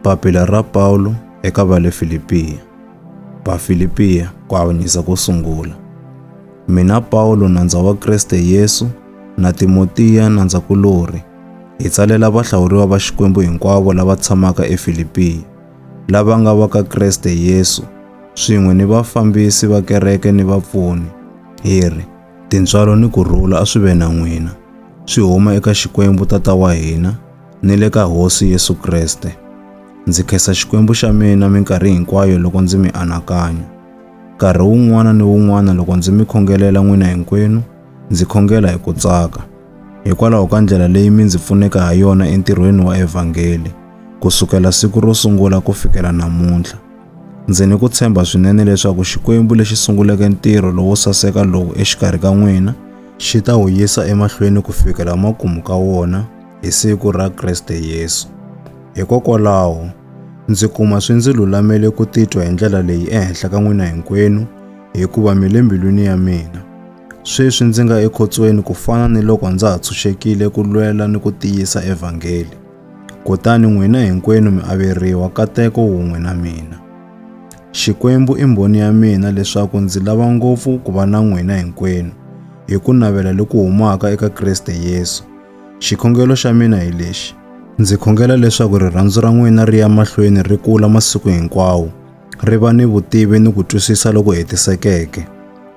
Papila ra Paulo eka va le Filipiya. Vafilipiya ku avanyisa ko sungula. Mina Paulo nandza wa Kriste Yesu na Timotiya nandzakulorhi hi tsalela vahlawuriwa va Xikwembu hinkwavo lava tshamaka eFilipiya, lava nga va ka Kriste Yesu, swin'we ni vafambisi va kereke ni vapfuni, hi ri, Tintswalo ni ku rhula a swi ve na n'wina, swi huma eka Xikwembu Tata wa hina, ni le ka Hosi Yesu Kreste. Ndzi khensa Xikwembu xa mina minkarhi hinkwayo loko ndzi mi anakanya. Nkarhi wun'wana ni wun'wana loko ndzi mi khongelela n'wina hinkwenu, ndzi khongela hi ku tsaka, hikwalaho ka ndlela leyi mi ndzi pfuneke ha yona entirhweni wa evhangeli, ku sukela siku ro sungula ku fikela namuntlha. Ndzi ni ku tshemba swinene leswaku Xikwembu lexi sunguleke ntirho lowo saseka lowu exikarhi ka n'wina, xi ta wu yisa emahlweni ku fikela makumu ka wona, hi siku ra Kriste Yesu. Hikokwalaho, ndzi kuma swi ndzi lulamele ku titwa hi ndlela leyi ehenhla ka n'wina hinkwenu, hikuva mi le mbilwini ya mina. Sweswi ndzi nga ekhotsweni ku fana ni loko ndza ha tshunxekile ku lwela ni ku tiyisa evhangeli. Kutani n'wina hinkwenu mi averiwa kateko wun'we na mina. Xikwembu i mbhoni ya mina leswaku ndzi lava ngopfu ku va na n'wina hinkwenu, hi ku navela loku humaka eka Kriste Yesu, Xikhongelo xa mina hi lexi. Ndzi khongela leswaku rirhandzu ra n'wina ri ya mahlweni ri kula masiku hinkwawo, ri va ni vutivi ni ku twisisa loku hetisekeke.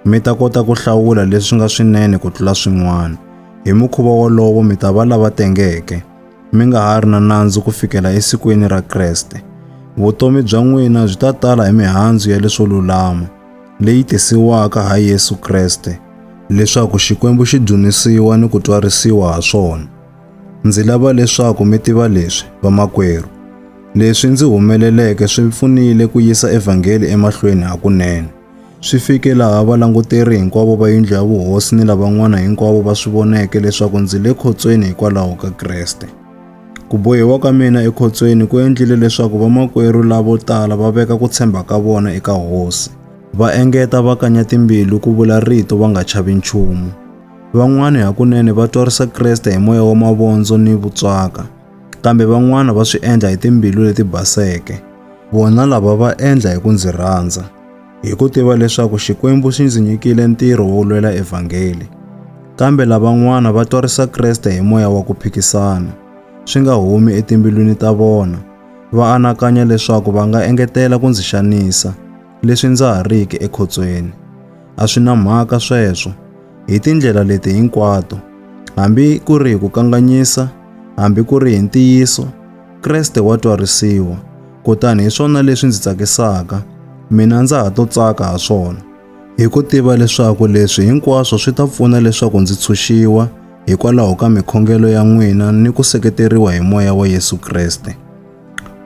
Mi ta kota ku hlawula leswi nga swinene ku tlula swin'wana. Hi mukhuva wolowo mi ta va lava tengeke, mi nga ha ri na nandzu ku fikela esikwini ra Kreste. Vutomi bya n'wina byi ta tala hi mihandzu ya leswo lulama. leyi tisiwaka ha Yesu Kreste leswaku Xikwembu xi dzunisiwa ni ku twarisiwa ha swona. Ndzi lava leswaku mi tiva leswi, vamakwerhu. Leswi ndzi humeleleke swi pfunile ku yisa evhangeli emahlweni hakunene. Swi fike laha valanguteri hinkwavo va yindlu ya vuhosi ni lavan'wana hinkwavo va swi voneke leswaku ndzi le khotsweni hikwalaho ka Kreste. Ku bohiwa ka mina ekhotsweni ku endlile leswaku vamakwerhu lavo tala va veka ku tshemba ka vona eka Hosi. Va engeta va kanya timbilu ku vula rito va nga chavi nchumu. Van'wana hakunene va twarisa Kreste hi moya wa mavondzo ni vutswaka, kambe van'wana va swi endla hi timbilu leti baseke. Vona lava va endla hi ku ndzi rhandza. Hi ku tiva leswaku Xikwembu xi ndzi nyikile ntirho wo lwela evhangeli, kambe lavan'wana va twarisa Kreste hi moya wa ku phikisana, swi nga humi etimbilwini ta vona, va anakanya leswaku va nga engetela ku ndzi xanisa, leswi ndza ha riki ekhotsweni. A swi na mhaka sweswo, hi tindlela leti hinkwato, hambi ku ri hi ku kanganyisa, hambi ku ri hi ntiyiso, Kreste wa twarisiwa, kutani hi swona leswi ndzi tsakisaka, mina ndza ha to tsaka ha swona, hi ku tiva leswaku leswi hinkwaswo swi ta pfuna leswaku ndzi tshunxiwa hikwalaho ka mikhongelo ya n'wina ni ku seketeriwa hi moya wa Yesu Kreste.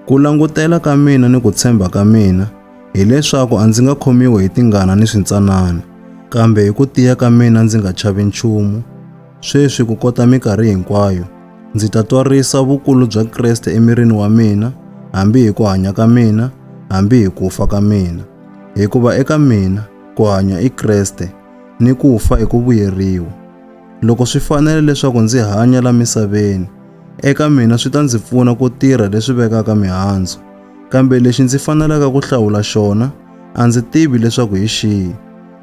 Ku langutela ka mina ni ku tshemba ka mina hileswaku a ndzi nga khomiwi hi tingana ni swintsanana, kambe hi ku tiya ka mina ndzi nga chavi nchumu, Sweswi ku kota mikarhi hinkwayo, ndzi ta twarisa vukulu bya Kreste emirini wa mina, hambi hi ku hanya ka mina, hambi hi ku fa ka mina. Hikuva eka mina, ku hanya i Kreste, ni ku fa i ku vuyeriwa. Loko swi fanele leswaku ndzi hanya la misaveni, eka mina swi ta ndzi pfuna ku tirha leswi vekaka mihandzu, kambe lexi ndzi fanelaka ku hlawula xona, a ndzi tivi leswaku hi xihi.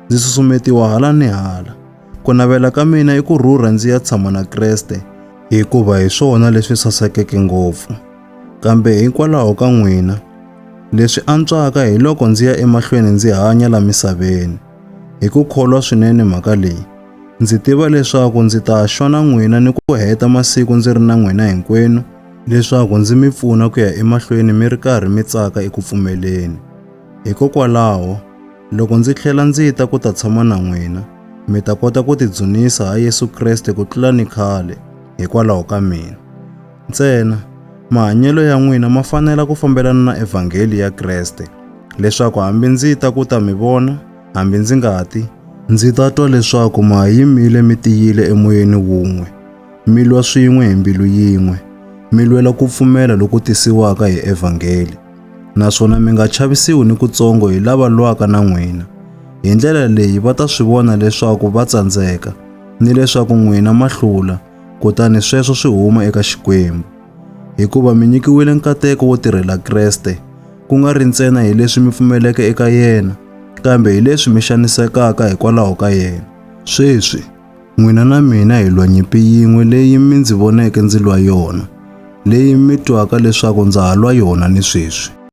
Ndzi susumetiwa hala ni hala. Ku navela ka mina i ku rhurha ndzi ya tshama na Kreste, hikuva hi swona leswi sasekeke ngopfu. Kambe hikwalaho ka n'wina, leswi antswaka hi loko ndzi ya emahlweni ndzi hanya la misaveni. Hi ku kholwa swinene mhaka leyi, ndzi tiva leswaku ndzi ta xona n'wina ni ku heta masiku ndzi ri na n'wina hinkwenu leswaku ndzi mi pfuna ku ya emahlweni mi ri karhi mi tsaka eku pfumeleni. Hikokwalaho, Loko ndzi tlhela ndzi ta ku ta tshama na n'wina, mi ta kota ku tidzunisa ha Yesu Kreste ku tlula ni khale hikwalaho ka mina. Ntsena, mahanyelo ya n'wina ma fanela ku fambelana na evhangeli ya Kreste, leswaku hambi ndzi ta ku ta mi vona, hambi ndzi nga ti, ndzi ta twa leswaku ma ha yimile mi tiyile emoyeni wun'we, mi lwa swin'we hi mbilu yin'we, mi lwela ku pfumela loku tisiwaka hi evhangeli. Naswona mi nga chavisiwi ni kutsongo hi lava lwaka na n'wina. Hi ndlela leyi va ta swi vona leswaku va tsandzeka, ni leswaku n'wina ma hlula, kutani sweswo swi huma eka Xikwembu. Hikuva mi nyikiwile nkateko wo tirhela Kreste, ku nga ri ntsena hi leswi mi pfumeleke eka yena, kambe hi leswi mi xanisekaka hikwalaho ka yena. Sweswi, N'wina na mina hi lwa nyimpi yin'we leyi mi ndzi voneke ndzi lwa yona, leyi mi twaka leswaku ndza ha lwa yona ni sweswi.